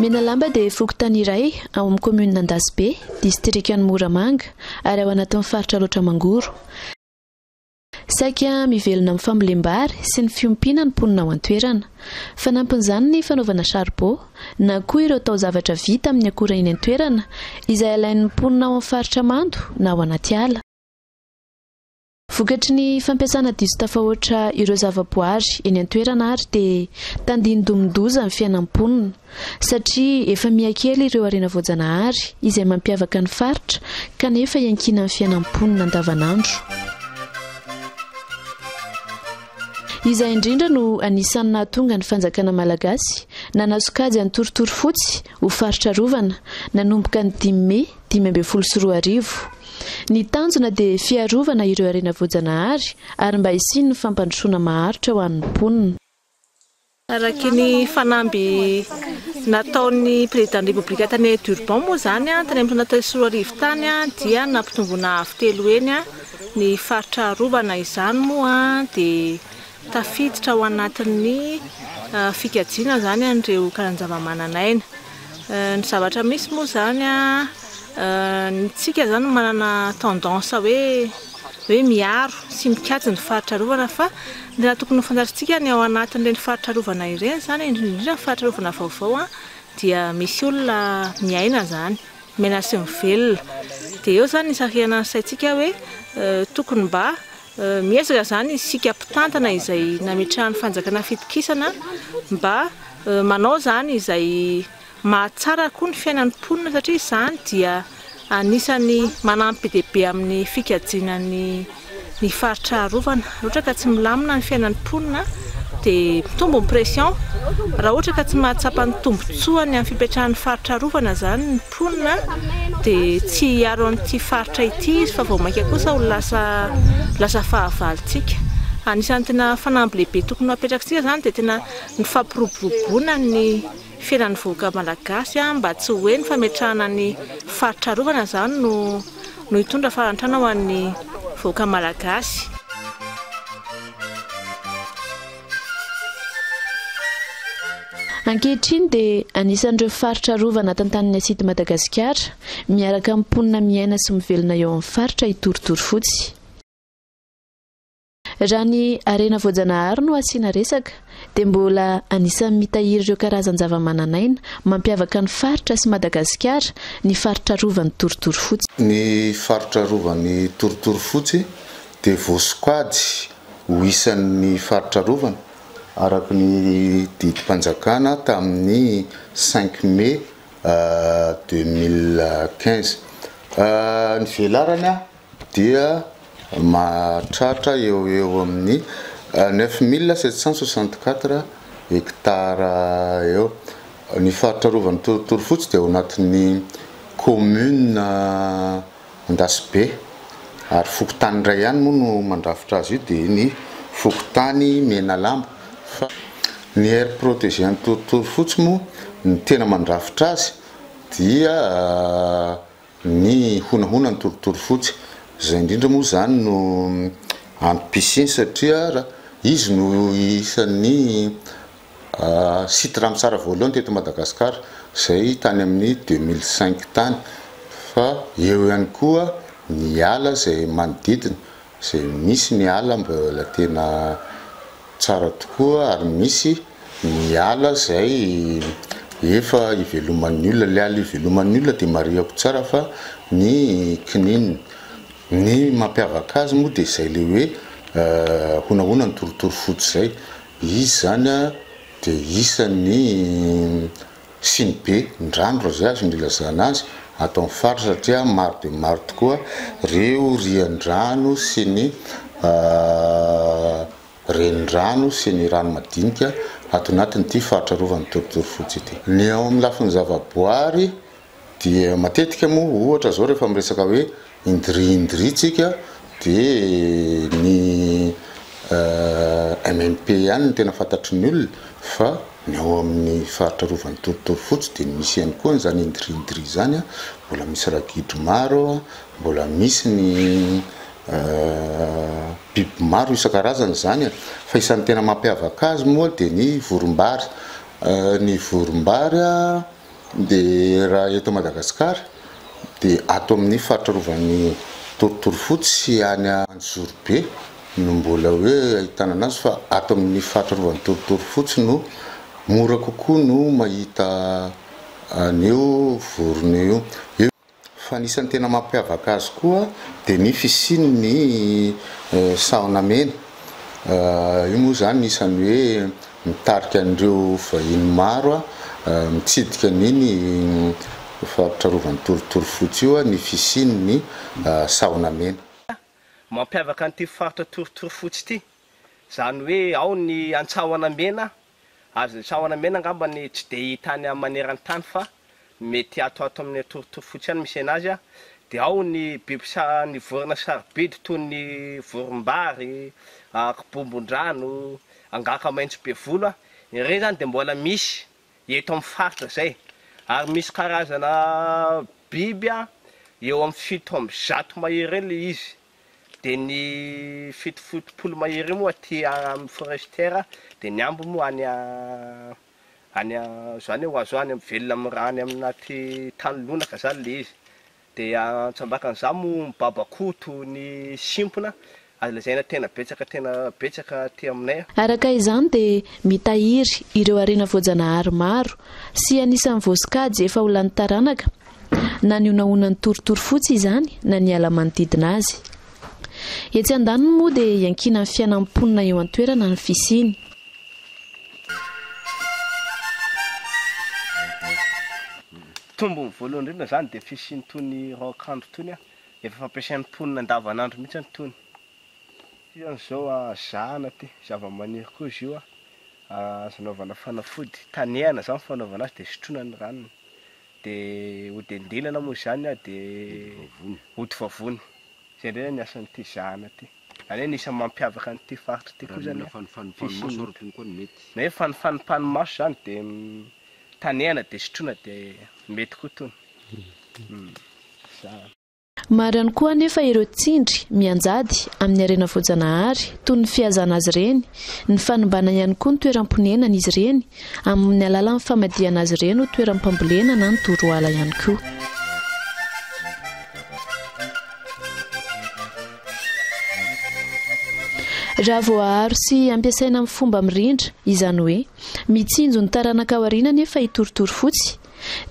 Menalamba dia fokontany iray ao amin'ny kaominina Andasibe, distrikan'i Moramanga, ary ao anatin'ny faritra Alaotra Mangoro. Saika mivelona amin'ny fambolem-bary sy ny fiompiana ny mponina ao an-toerana. Fanampin'izany ny fanaovana saribô, na koa ireo taozavatra vita amin'ny akora eny an-toerana, izay alain'ny mponina ao amin'ny faritra mando na ao anaty ala. Vokatry ny fampiasana diso tafahoatra ireo zavaboary eny an-toerana ary dia tandindomin-doza ny fiainan'ny mponina satria efa miha kely ireo harena voajanahary izay mampiavaka ny faritra kanefa iankinan'ny fiainan'ny mponina andavanandro. Izay indrindra no anisan'ny nahatonga ny fanjakana malagasy nanasokajy an'i Torotorofotsy ho faritra arovana nanomboka ny dimy mey dimy ambin'ny folo sy roa arivo. Ny tanjona dia fiarovana ireo harena voajanahary ary mba hisian'ny fampandrosoana maharitra ho an'ny mponina. Araka ny fanamby nataon'ny Prezidàn'ny Repoblika tany Durban moa izany, tany amin'ny taona telo sy roa arivo tany, dia nampitomboina avo telo heny ny faritra arovana. Izany moa dia. Tafiditra ao anatin'ny fikajiana izany an'ireo karazan-javamananaina. Ny zavatra misy moa izany, isika izany manana tendance hoe hoe miaro sy mikajy ny faritra arovana fa ny raha tokony ho fantatrintsika ny ao anatin'ireny faritra arovana ireny izany, indrindra indrindra ny faritra arovana vaovao dia misy olona miaina izany, miaina sy mivelona. Dia eo izany ny isarihana ny saintsika hoe tokony mba Miezaka izany isika mpitantana izay nametrahan'ny fanjakana fitokisana mba manao izany izay mahatsara koa ny fiainan'ny mponina satria izany dia anisan'ny manampy be dia be amin'ny fikajiana ny ny faritra arovana. Raha ohatra ka tsy milamina ny fiainan'ny mponina dia mitombo ny pression, raha ohatra ka tsy mahatsapa ny tombontsoany amin'ny fipetrahan'ny faritra arovana izany ny. mponina dia tsy hiaro an'ity faritra ity izy fa vao mainka kosa ho lasa lasa fahavalontsika. Anisan'ny tena fanamby lehibe tokony ho apetrakintsika izany dia tena ny fampiroboroboana ny fiainan'ny vahoaka malagasy mba tsy hoe ny fametrahana ny faritra arovana izany no no hitondra fahantrana ho an'ny vahoaka malagasy. Ankehitriny dia anisan'ireo faritra arovana tantanin'ny Asidy Madagasikara, miaraka amin'ny mponina miaina sy mivelona eo amin'ny faritra i Torotorofotsy. Raha ny harena voajanahary no asiana resaka dia mbola anisan'ny mitahiry ireo karazan-javamananaina mampiavaka ny faritra sy Madagasikara ny faritra arovan'i Torotorofotsy. Ny faritra arovan'i Torotorofotsy dia voasokajy ho isan'ny faritra arovana, araka ny didim-panjakana tamin'ny cinq mai deux mille quinze. Ny velarany dia mahatratra eo ho eo amin'ny neuf mille sept cent soixante quatre hectares eo. Ny faritra arovan'ny Torotoro Fotsy dia ao anatin'ny kaominina. Andasibe, ary fokontany iray ihany moa no mandrafitra azy io dia ny fokontany Menalambo fa ny aire protegée Antorotorofotsy moa ny tena mandrafitra azy dia ny honahonan'i Torotorofotsy, izay indrindra moa izany no antom-pisiany satria izy no isan'ny Site Ramsar voalohany teto Madagasikara izay tany amin'ny deux mille cinq tany fa eo ihany koa ny ala izay manodidina izay misy ny ala mbola tena tsara tokoa ary misy ny ala izay efa iveloman'ny olona, ilay ala iveloman'ny olona dia marihako tsara fa ny kininina, ny mampiavaka azy moa dia izay ilay hoe honahona ny torotoro fotsy izay. Izy izany dia isan'ny siny be ndrandro izay azo ny ilazana azy ato amin'ny faritra satria maro dia maro tokoa ireo rian-drano sy ny renirano sy ny rano madinika ato anatin'ity faritra arovan'ny torotoro fotsy ity. Ny ao amin'ny lafiny zavaboary Dia matetika moa ohatra zao rehefa miresaka hoe indri indri tsika de ny MMP ihany no tena fantatry ny olona fa ny ao amin'ny faritra arovan'i Torotoro fotsy de misy ihany koa an'izany indri indri izany a, mbola misy ragidro maro, mbola misy ny biby maro isan-karazany izany e, fa isan'ny tena mampiavaka azy moa de ny voromb-bary, ny voromb-bary a. Dia raha eto Madagasikara dia ato amin'ny faritra rovan'i Torotorofotsy sy any Anjozorobe no mbola hoe ahitana an'azy fa ato amin'ny faritra rovan'i Torotorofotsy no mora kokoa no mahita an'io vorona io. Fa ny isan'ny tena mampiavaka azy koa dia ny fisiany ny sahona mena. Io moa izany isan'ny hoe mitarika an'ireo vahiny maro mitsidika an'iny faritra arovan'ny torotoro fotsy io ny fisiany ny sahona mena. Mampiavaka an'ity faritra torotoro fotsy ity izany hoe ao ny an-tsahona mena Azon'ny sahona mena angamba ny tsy dia hita any maneran-tany fa mety ato ato amin'ny atorotory fotsy ihany misena azy dia ao ny biby sa ny vorona sarobidy toy ny vorombary, kibombon-drano, angaka maitso be volo, ireny izany dia mbola misy eto amin'ny faritra izay ary misy karazana biby eo amin'ny fito amby zato mahery eo ilay izy. Dia ny fito fotopolo mahery io moa aty amin'ny forestière dia ny ambiny moa any any izany hoe ho azo any velona amin'ny raha any amin'aty tany lonaka izany ilay izy. Dia an-tsambakan'izany moa ny babakoto, ny simpona, azo lazaina tena betsaka tena betsaka aty aminay. Araka izany dia mitahiry ireo harena voajanahary maro sy anisan'ny voasokajy efa ho lany taranaka, na ny honahonan'ny torotoro fotsy izany na ny ala manodidina azy. Etsy andaniny moa dia iankinan'ny fiainan'ny mponina eo an-toerana ny fisiany. Tombony voalohany indrindra izany dia fisian'itony raokandro itony, efa fampiasain'ny mponina andavanandro mihitsy any itony. Ity amin'izao zahana ity, zavamaniry koa izy io, azo anaovana fanafody, tanehana izany fanaovana azy dia sotroina ny ranony. dia hodendinana moa izany an, dia hody vavony. Izay indray ny asan'ity zahana ity. Izany hoe ny isan'ny mampiavaka an'ity faritra ity koa izany an, fisian'ny, na hoe fanifanimpan'ny maso izany dia tanehana dia sotroina dia mety koa itony. Zahana. Maro ihany koa anefa ireo tsindry mianjady amin'ny harena voajanahary, toy ny fihazàna azy ireny, ny fanimbàna ihany koa ny toeram-ponenan'izy ireny, amin'ny alàlan'ny famadihana azy ireny ho toeram-pambolena na ny toroala ihany koa. Raha voaaro sy ampiasaina amin'ny fomba mirindra, izany hoe, mitsinjo ny taranaka aoriana anefa i Torotorofotsy,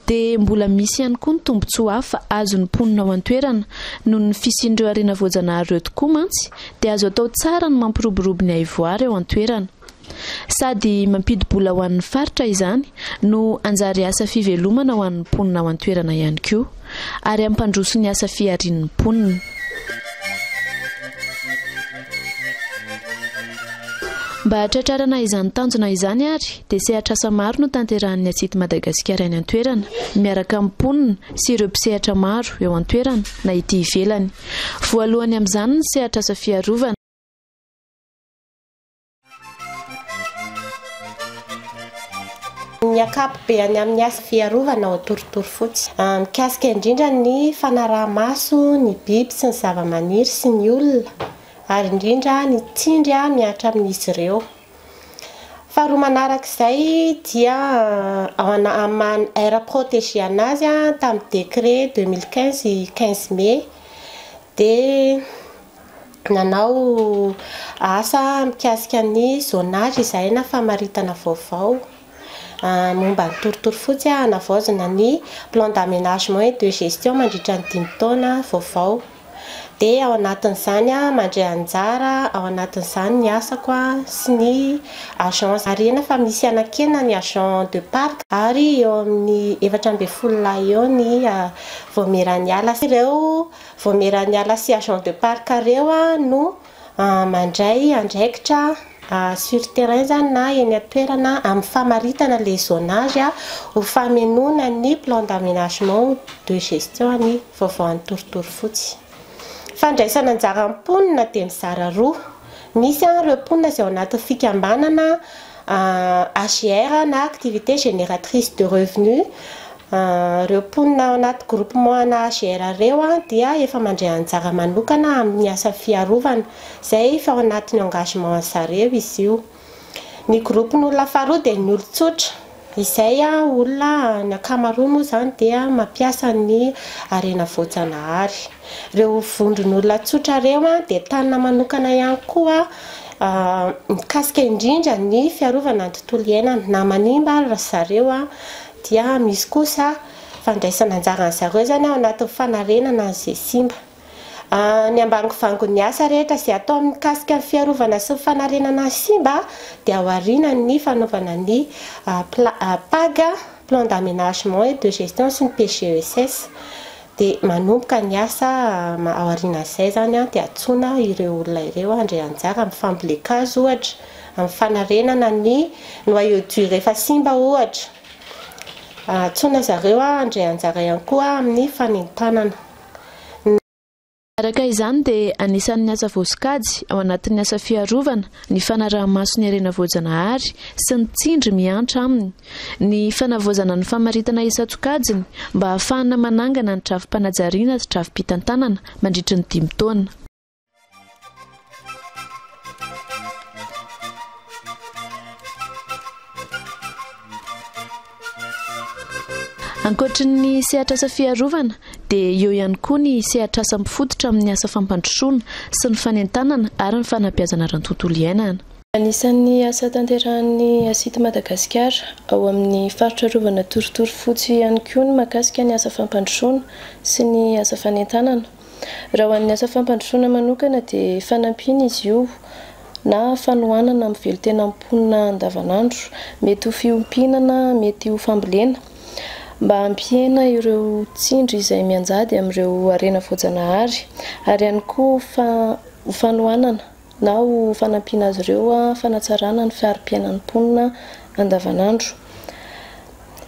dia mbola misy ihany koa ny tombontsoa hafa azon'ny mponina ao an-toerana, noho ny fisian'ireo harena voajanahary ireo tokoa mantsy dia azo atao tsara ny mampiroborobo ny haivoara eo an-toerana. Sady mampidi-bola ho an'ny faritra izany no hanjary asa fivelomana ho an'ny mponina ao an-toerana ihany koa. ary hampandroso ny asa fiharian'ny mponina. Mba hahatratrarana izany tanjona izany ary dia sehatr'asa maro no tanterahan'ny ACIDT Madagasikara any an-toerana, miaraka amin'ny mponina sy ireo mpisehatra maro eo an-toerana na ety ivelany. Voalohany amin'izany ny sehatr'asa fiarovana. ny ankapobeany amin'ny asa fiarovana ao Antorotorofotsy. Mikasika indrindra ny fanaraha-maso ny biby sy ny zavamaniry sy ny olona, ary indrindra ny tsindry mihatra amin'izy ireo. Faharoa manaraka izay dia ao amin'ny maha aire protégée an'azy tamin'ny décret deux mille quinze quinze mai, dia nanao asa mikasika ny zonage izahay na famaritana vaovao momba ny torotoro fotsy hanavaozina ny plan d'amenagement et de gestion mandritra ny dimy taona vaovao dia ao anatin'izany aho mandray anjara ao anatin'izany ny asako sy ny agence marihina fa misy hanakena ny agent de parc ary eo amin'ny efatra ambin'ny folo lahy eo ny vao miha-raniala sy ireo Vaomiera niala sy agent de parc reo no mandray andraikitra sur terrain zany na eny an-toerana amin'ny famaritana le zonage ho famenoana ny plan d'aménagement de gestion ny vaovao any Torotoro fotsy. Fandraisana anjara ny mponina dia mizara roa, misy an reo mponina izay ao anatin'ny fikambanana AGR na activité génératrice de revenu, Ireo mponina ao anaty groupement ana AGR ireo dia efa mandray anjara manokana amin'ny asa fiarovana, izay efa ao anatin'ny engagement-ny zareo izy io. Ny groupe-ny olona faharoa dia ny olon-tsotra, izay olona ny ankamaroany moa izany dia mampiasa ny harena voajanahary. Ireo vondron'olona tsotra ireo dia tanina manokana ihany koa mikasika indrindra ny fiarovana ny tontolo iainana, na manimba ary zareo dia misy kosa fandraisana anjaran'ny zareo izany ao anatin'ny fanarenana an'izay simba. Ny ambangovangon'ny asa rehetra izay atao mikasika ny fiarovana sy ny fanarenana ny simba dia ao aorianan'ny fanaovana ny PAG, Plan d'Aménagement et de Gestion, sy ny PGESS. Dia manomboka ny asa aorianan'izay izany dia antsoina ireo olona ireo handray anjara amin'ny fambolen-kazo ohatra, amin'ny fanarenana ny noyau dur efa simba ohatra. Antsoina zareo handray anjara ihany koa amin'ny fanentanana. Araka izany dia anisan'ny asa voasokajy ao anatin'ny asa fiarovana ny fanaraha-maso ny harena voajanahary sy ny tsindry miantra aminy ny fanavaozana ny famaritana isan-tsokajiny mba hahafahana manangana ny drafi-panajariana sy drafi-pitantanana mandritry ny dimy taona. Ankoatry ny sehatr'asa fiarovana dia eo ihany koa ny sehatr'asa mifototra amin'ny asa fampandrosoana sy ny fanentanana ary ny fanabeazana ara-tontolo iainana. Anisan'ny asa tanterahan'ny ACIT Madagascar ao amin'ny faritra arovana torotoro fotsy ihany koa ny mahakasika ny asa fampandrosoana sy ny asa fanentanana. Raha ho an'ny asa fampandrosoana manokana dia fanampiana izy io na fanohanana amin'ny velon-tenan'ny mponina andavanandro. Mety ho fiompiana na mety ho fambolena mba hampihena ireo tsindry izay mianjady amin'ireo harena voajanahary ary ihany koa ho fanohanana. na ho fanampiana azy ireo fanatsarana ny fari-piainan'ny mponina andavanandro.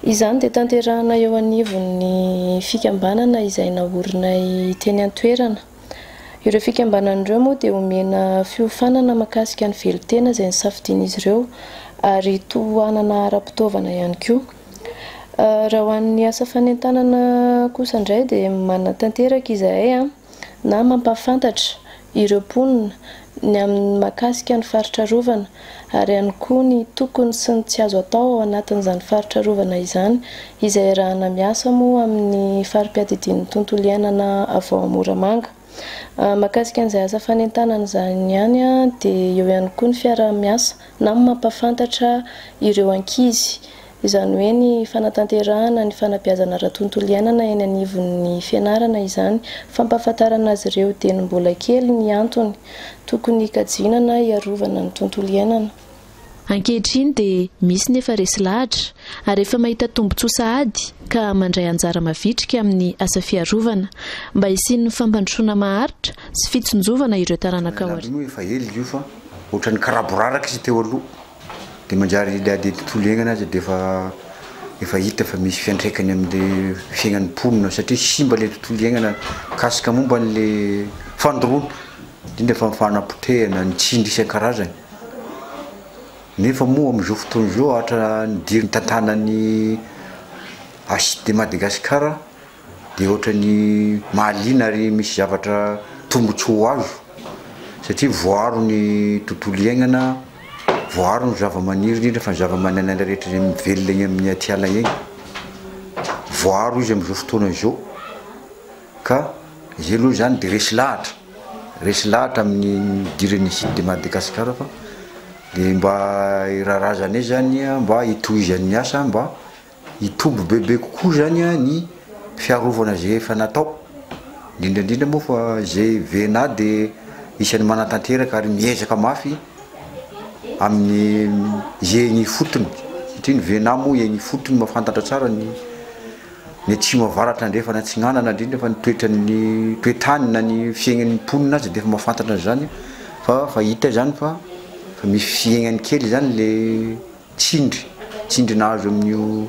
Izany dia tanterahina eo anivon'ny fikambanana izay naorinay teny an-toerana. Ireo fikambanana ireo moa dia omena fiofanana makasika ny velon-tena izay nisafidian'izy ireo ary tohanana ara-pitaovana ihany koa. Raha ho an'ny asa fanentanana kosa indray dia manatanteraka izahay. na mampahafantatra ireo mponina ny amin'ny mahakasika ny faritra arovana ary ihany koa ny tokony sy ny tsy azo atao ao anatin'izany faritra arovana izany izay arahana miasa moa amin'ny fari-piadidian'ny tontolo iainana avy ao Moramanga. Mahakasika an'izay asa fanentanana izany ihany dia eo ihany koa ny fiaraha-miasa na mampahafantatra ireo ankizy izany hoe ny fanatanterahana ny fanabeazana ara-tontolo iainana eny anivon'ny fianarana izany, fampahafantarana azy ireo dieny mbola kely ny antony tokony hikajiana na hiarovana ny tontolo iainana. Ankehitriny dia misy ny efa resy lahatra ary efa mahita tombontsoa sahady ka mandray anjara mavitrika amin'ny asa fiarovana, mba hisian'ny fampandrosoana maharitra sy fitsinjovana ireo taranaka aoriana. Raha raha aloha efa ela io fa ohatran'ny karaboraraka izy teo aloha. dia manjary ilay ady tontolo iainana aza dia efa efa hita fa misy fiantraikany amin'ilay fiainan'ny mponina satria simba ilay tontolo iainana mikasika momba an'ilay fandoroana indrindra fa ny fanapotehana, ny tsindry isan-karazany nefa moa amin'izao fotoana izao araka ny diry nitantanan'ny HIDMadagascar dia ohatran'ny mahaliana ary misy zavatra tombotsoa ho azo satria voaaro ny tontolo iaignana, voaaro ny zavamaniry indrindra fa ny zavamananaina rehetra izay mivelona egny amin'ny atiala egny, voaaro izy amin'izao fotoana izao ka izay aloha izany dia resy lahatra, resy lahatra amin'ny nidiran'ny site de Madagascar fa dia mba hiraharazanay izany mba hitohizan'ny asa mba. hitombo bebe kokoa izany ny fiarovana izay efa natao, indrindra indrindra moa fa izay VNA dia isan'ny manatanteraka ary miezaka mafy amin'ny izay eny ifotony satria ny VNA moa eny ifotony mahafantatra tsara ny ny atsimo avaratra andrefana atsinanana indrindra fa ny toetran'ny toetany na ny fiaignan'ny mponina aza dia efa mahafantatra an'izany fa fa hita izany fa fa misy fiaignany kely izany le Tsindry, tsindry nahazo amin'io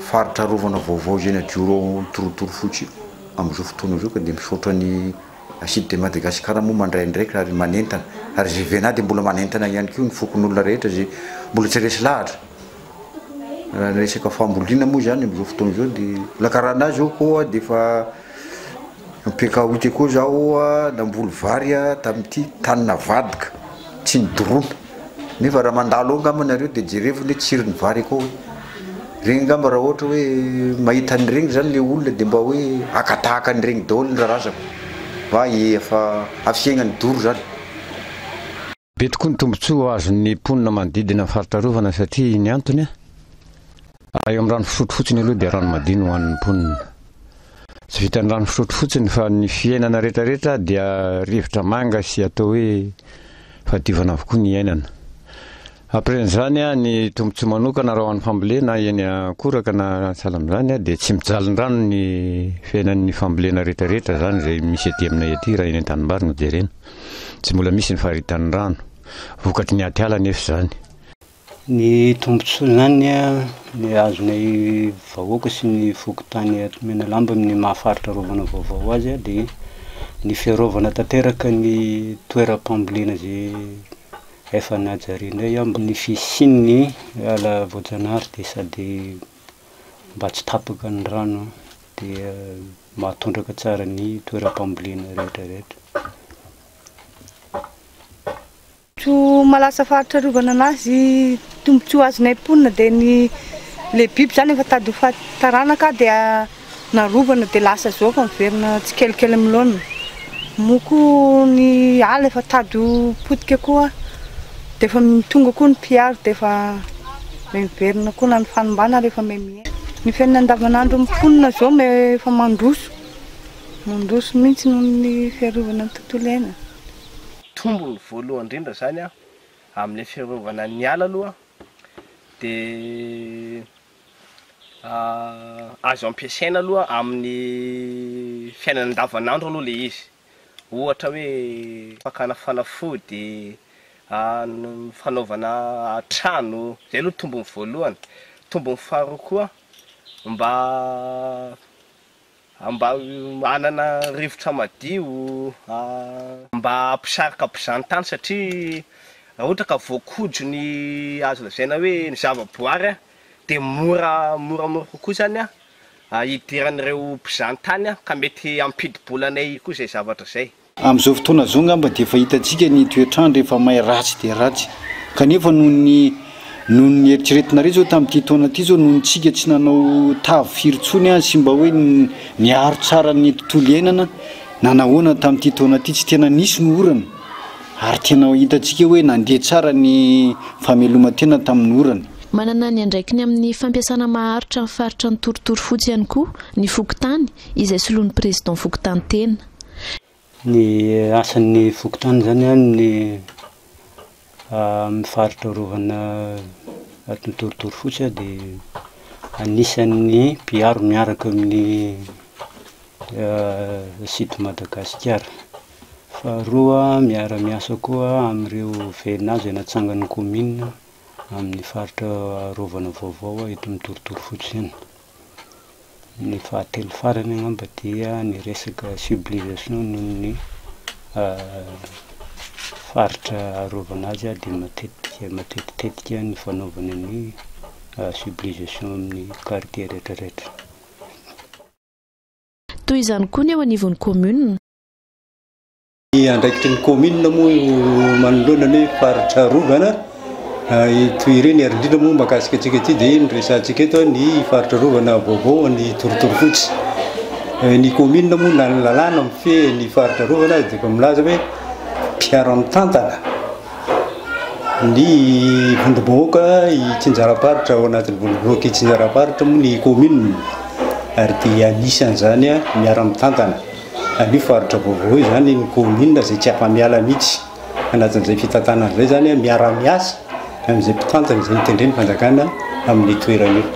faritra arovana vaovao Zenadjoro ao Antorotorofotsy io amin'izao fotoana izao ka dia misaotra ny Acide de Madagascar moa mandray andraikitra ary manentana ary izay Vena dia mbola manentana ihany koa ny fokonolona rehetra izay mbola tsy resy lahatra raha ny resaka fambolina moa izany amin'izao fotoana izao dia mbola karana azy io koa dia efa Ampiakaoty koa zaho namboly vary tamin'ity tany navadika tsy nidorona nefa raha mandalo ao angamba nareo de jerevo ny tsiron'ny vary akao e, regny angamba raha ohatra hoe mahita an'iregny zany le olona de mba hoe haka tahaka an'iregny daholo ny rarazako fa efa hafihegna ny doro zany. Be tokoa ny tombontsoa azon'ny mponina manodidina ny faritra arovana satria ny antony, raha eo amin'ny rano fisotro fotsiny aloha dia rano madio no hohanin'ny mponina. Tsy vitan'ny rano fisotro fotsiny fa ny fiainana rehetrarehetra dia rivotra manga sy atao hoe fahadiovana avokoa ny iainana. Ampren'izany ny tombontsoa manokana raha ho an'ny fambolena eny Ankoraka na sahala amin'izany dia tsy mijaly ny rano ny fiainan'ny fambolena rehetrarehetra izany izay misy ety aminay ety raha eny an-tanimbary no jerena. Tsy mbola misy ny faritan'ny rano. Vokatry ny atiala anefa izany. Ny tombontsoan'izany dia azonay vahoaka sy ny fokontany ato Menalamba amin'ny maha faritra arovana vaovao azy dia ny fiarovana tanteraka ny toeram-pambolena izay efa najarianay ao mba ny fisian'ny ala voajanahary dia sady mba tsy tapaka ny rano. dia mahatondraka tsara ny toeram-pambolena rehetra rehetra. Tsy malasa faritra arovana anazy tombontsoa azonay mponina dia ny le biby zany efa tady ho faty taranaka dia narovana dia lasa zao fa miverina tsikelikely amin'ny laoniny moa koa ny ala efa tady ho potika koa dia efa tonga koa ny mpiaro dia efa Miverina koa na ny fanimbana ary efa mihemihemy. Ny fiainana andavanandron'ny mponina izao efa mandroso, mandroso mihitsy noho ny fiarovana ny tontolo iainana. Tombony voalohany indrindra izany amin'ilay fiarovana ny ala aloha dia azo ampiasaina aloha amin'ny fiainana andavanandro aloha ilay izy. ohatra hoe fakana fanafody, fanaovana trano, izay aloha tombony voalohany, tombony faharoa koa mba mba hanana rivotra madio, mba hampisarika mpizahantany satria raha ohatra ka voakodro ny azo lazaina hoe ny zavaboary dia mora moramora kokoa izany hidiran'ireo mpizahantany aho ka mety hampidi-bola anay koa izay zavatra izay. Amin'izao fotoana izao angamba dia efa hitantsika ny toetr'andro efa may ratsy dia ratsy kanefa noho ny noho ny eritreretinareo izao tamin'ity taona ity izao noho ny tsika tsy nanao tavy firy intsony sy mba hoe niaro tsara ny tontolo iainana na nahoana tamin'ity taona ity tsy tena nisy ny orana Ary tena hitantsika hoe nandeha tsara ny fameloman-tena tamin'ny orana. Manana ny andraikiny amin'ny fampiasana maharitra ny faritra Antorotoro Fotsy ihany koa ny fokontany izay soloin'ny Président fokontany tena. Ny asan'ny fokontany izany ny amin'ny faritra arovana ato Antorotoro Fotsy dia anisan'ny mpiaro miaraka amin'ny site Madagasikara. Faharoa, miara-miasa koa amin'ireo VNA izay natsangan'ny kaominina amin'ny faritra arovana vaovao eto amin'ny torotoro fotsy ihany. Ny fahatelo farany angamba dia ny resaka cibilisation noho ny faritra arovana azy dia matetika matetitetika ny fanaovana ny cibilisation amin'ny quartier rehetra rehetra. Toy izany koa ny eo anivon'ny kaominina. Ny andraikitry ny kaominina moa io manoloana ny faritra arovana ito ireny ary indrindra moa mahakasika antsika ity dia ny resahantsika eto ny faritra arovana vaovao ny torotorofotsy. Ny kaominina moa na ny lalàna mifehy ny faritra arovana aza dia efa milaza hoe mpiara-mitantana ny vondrom-bahoaka itsinjaram-paritra ao anatin'ny vondrom-bahoaka itsinjaram-paritra moa ny kaominina ary dia anisan'izany miara-mitantana. Anio faritra vaovao izany ny kaominina izay tsy afa-miala mihitsy anatin'izay fitantanana izay izany, miara-miasa amin'izay mpitantana izay mitendry ny fanjakana amin'io toerana io.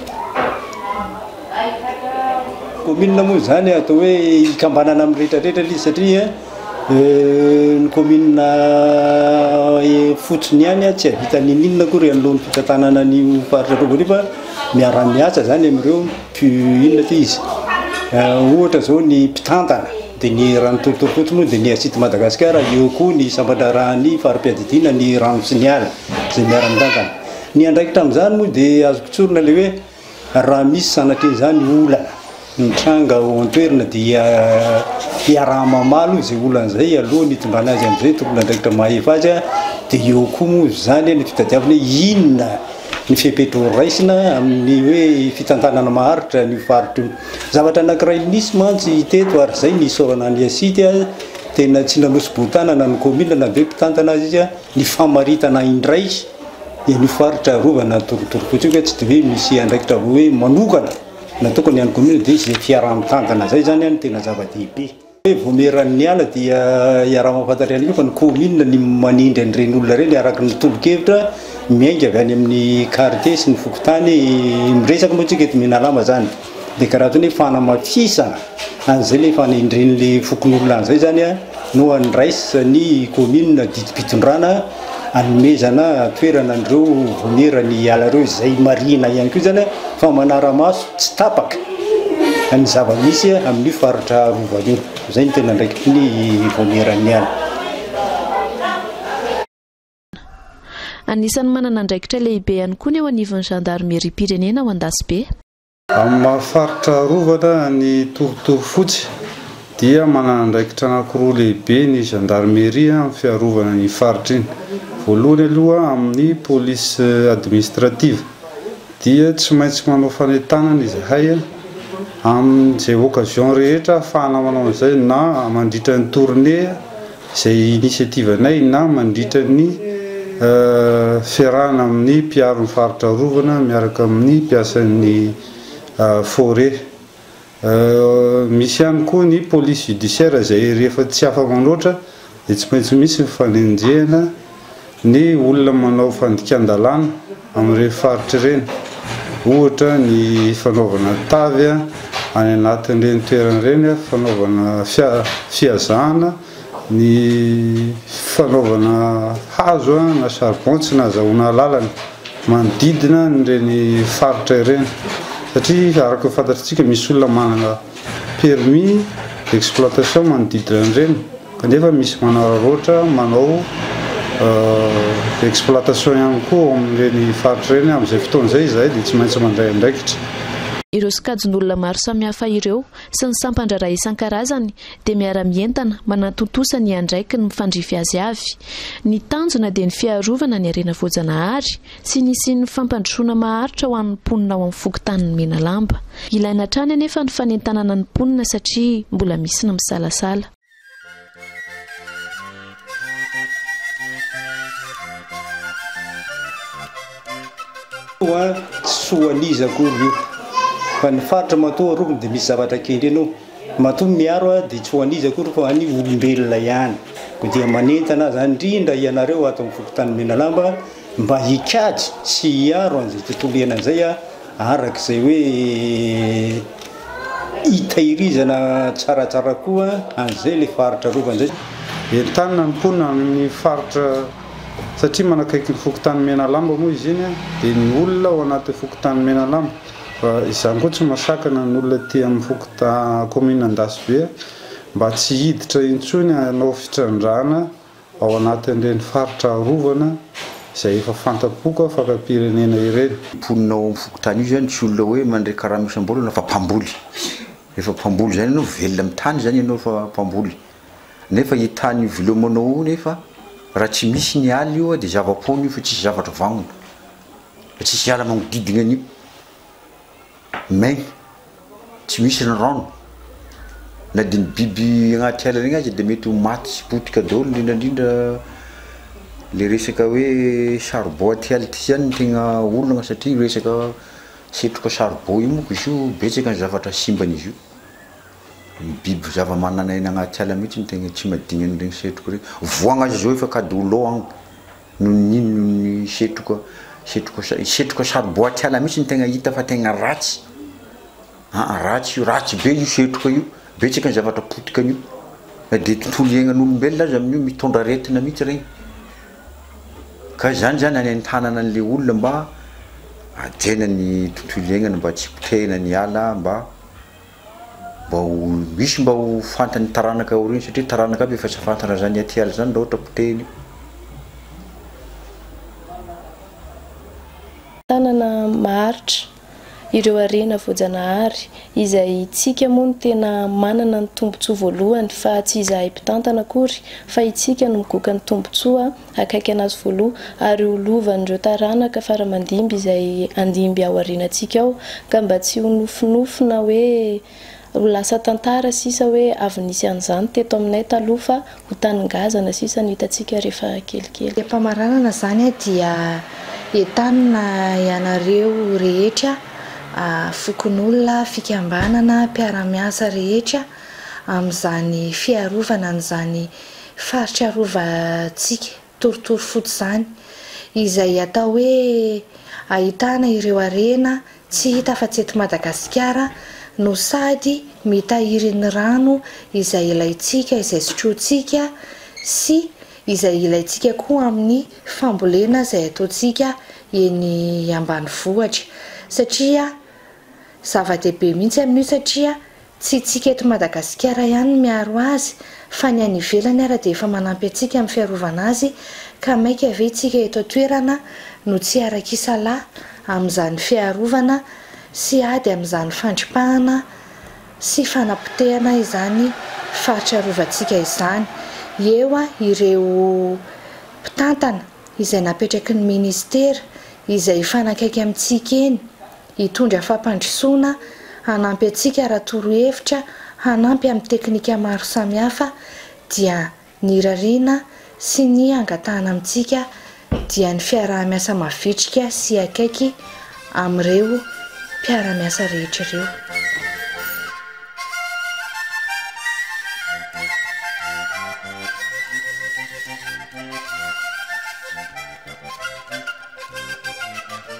Kaominina moa izany atao hoe hikambanana amin'ny rehetra rehetra ilay izy satria ny kaominina fotsiny ihany tsy hahavita n'inon'inona akory anoloan'ny fitantanana an'io faritra vaovao io fa miara-miasa izany amin'ireo. Ky inona ity izy? Ohatra izao ny mpitantana dia ny eran'ny torotorom-pontsy moa dia ny Assitte Madagascar, eo koa ny sampan-draharahan'ny fari-piadidiana ny rano sy ny ala izay miara-mitantana. Ny andraikitra amin'izany moa dia azoko tsorina ilay hoe raha misy sanatrian'izany olana mitranga ao an-toerana dia iaraha-mamaly izay olana izay alohan'ny hitondrana azy amin'izay tompon'andraikitra mahefa azy dia eo koa moa izany ny fitadiavana hoe inona ny fepetra horaisina amin'ny hoe fitantanana maharitra an'io faritra io. Zavatra anankiray nisy mantsy teto ary izay ny isaorana an'i Asidy a, tena tsy nanosi-boho-tanana ny kaominina na dia hoe mpitantana aza izy a, ny famaritana indray an'io faritra arovana ny torontorofotsy io ka tsy dia hoe misy andraikitra hoe manokana natokana ny an'ny kaominina dia izay fiaraha-mitantana izay izany a no tena zava-dehibe. Hoe vao miha-rano niala dia iaraha-mahafantatra ihany koa fa ny kaominina ny manindry an'ireny olona ireny araka ny tolo-kevitra miainga avy any amin'ny Carte sy ny fokontany. Miresaka moa isika eto Menalama izany dia karaha toy ny hoe fanamafisana an'izay ilay efa nendren'ilay fokonolona an'izay izany no andraisan'ny kaominina didim-pitondrana. anomezana toerana an'ireo voniera ny ala ireo izay marihina ihany koa izany fa manara-maso tsy tapaka ny zava-misy amin'io faritra Rova io. Izay ny tena andraikitry ny vonieran'ny ala. Anisan'ny manana andraikitra lehibe ihany koa ny eo anivon'ny zandarimeriam-pirenena ao Andasibe. Amin'ny maha faritra arovana an'i Torotoro Fotsy dia manana andraikitra anankiroa lehibe ny Gendarmerie amin'ny fiarovana iny faritra iny. Voalohany aloha amin'ny Police Administrative dia tsy maintsy manao fanentanana izahay amin'izay occasion rehetra ahafahana manao an'izay na mandritra ny tournée, Izay initiative-nay na mandritra ny fiarahana amin'ny mpiaro ny faritra arovana miaraka amin'ny mpiasan'ny forêt. Misy ihany koa ny police judiciaire izay rehefa tsy afa-manoatra dia tsy maintsy misy ny fanenjehana. ny olona manao fandikan-dalàna amin'ireny faritra ireny, ohatra ny fanaovana tavy any anatin'ireny toerana ireny, fanaovana fihazahana, ny fanaovana hazo na charbon tsy nahazahoana alalana manodidina an'ireny faritra ireny satria araka ny fantatrantsika misy olona manana permis d'exploitation manodidina an'ireny. Kanefa misy manararaotra manao exploitation ihany koa ao amin'ireny faritra ireny. Amin'izay fotoana izay izahay dia tsy maintsy mandray andraikitra. Ireo sokajin'olona maro samihafa ireo sy ny sampan-draharaha isan-karazany dia miara-mientana manatontosa ny andraikiny mifandrify azy avy. Ny tanjona dia ny fiarovana ny harena voajanahary, Tsy nisian'ny fampandrosoana maharitra ho an'ny mponina ao amin'ny fokontanin'i Menalamba. Ilaina hatrany anefa ny fanentanana ny mponina satria mbola misy ny misalasala. Soa an'iza akory io fa ny faritra matoa arovina dia misy zavatra kendrena ao. Matoa miaro dia tsy ho an'iza akory fa ho an'ny olombelona ihany. Koa dia manentana aza indrindra ianareo ato amin'ny fokontanin'i Menalamba Mba hikajy sy hiaro an'izay tontolo iainana izay araka izay hoe hitairizana tsaratsara koa an'izay ilay faritra arovana izay. Entanina ny mponina any amin'ny faritra satria manakaiky ny fokontany Menalamba moa izy iny dia ny olona ao anatin'ny fokontany Menalamba fa izany koa tsy masakana ny olona aty amin'ny fokontany kaominina Andasibe mba tsy hiditra intsony hanao fitrandrahana ao anatin'ireny faritra arovana izay efa fanta-poka fakampirenena ireny. Ny mponina ao amin'ny fokontany io izany tsy olona hoe mandray karama isam-bolana fa mpamboly. Rehefa mpamboly izany ianao, velona amin'ny tany izany ianao fa mpamboly. Nefa io tany hivelomanao io nefa raha tsy misy ny ala io dia zava-poana io fa tsisy zavatra vagnona. Fa tsisy ala magnodidina an'io. maigny tsy misy ny rano na dia ny biby agnaty ala regny aza dia mety ho maty sy potika daholo indrindra indrindra le resaka hoe charbon aty ala ty zany no tegna olagna satria io resaka setroka charbon io moko izy io betsaka ny zavatra simban'izy io, ny biby zavamananaina agnaty ala mihitsy no tegna tsy madigny an'iregny setroka regny, voa gn'azy zao efa kady ho lò agny. Noho ny inona? Noho ny setroka, setroka, setroka sariboaty ala mihitsy no tegna hita fa tegna ratsy, aa ratsy io, ratsy be io setroka io, betsaka ny zavatra potikan'io, na dia tontolo iainan'olombelona aza amin'io mitondra aretina mihitsy regny, ka izany zany anentanana an'ilay olona mba hajaina ny tontolo iaignany mba tsy hipotehina ny ala mba. mba ho misy mba ho fantan'ny taranaka aoriany satria taranaka aby efa tsy fantana zany atiala zany raha ohatra potehiny. Tanana maharitra ireo harena voajanahary izay tsika moa no tena manana ny tombotsoa voalohany fa tsy izahay mpitantana akory fa itsika no migoka ny tombotsoa akaiky an'Azy voaloha, ary ho lovan'ireo taranaka faramandimby izay handimby ao aorianantsika ao, ka mba tsy ho nofinofy na hoe ho lasa tantara sisa hoe avy nisy an'izany teto aminay taloha fa ho taningazana sisa no hitantsika rehefa kelikely. Ny am-pamaranana izany dia entanina ianareo rehetra, fokonolona, fikambanana, mpiara-miasa rehetra, amin'izany fiarovana an'izany Faritra arovantsika torotoro fotsy izany, izay atao hoe ahitana ireo harena tsy hita afa-tsy eto Madagasikara no sady mitahiry ny rano izay ilaintsika, izay sotrointsika sy izay ilaintsika koa amin'ny fambolena izay ataontsika eny ambanivohitra satria zava-dehibe mihitsy amin'io satria Tsy isika eto Madagasikara ihany no miaro azy fa ny any ivelany ara dia efa manampy antsika amin'ny fiarovana azy ka maika ve isika eto an-toerana no tsy harak'isalahy amin'izany fiarovana sy ady amin'izany fandripahana sy fanapotehana izany faritra arovantsika izany eo ireo mpitantana izay napetraky ny ministera izay hifanakaiky amintsika eny Hitondra fampandrosoana, hanampy antsika raha torohevitra, hanampy amin'ny teknika maro samihafa dia ny irariana sy ny hangatahana amintsika dia ny fiaraha-miasa mavitrika sy akaiky amin'ireo mpiara-miasa rehetra ireo.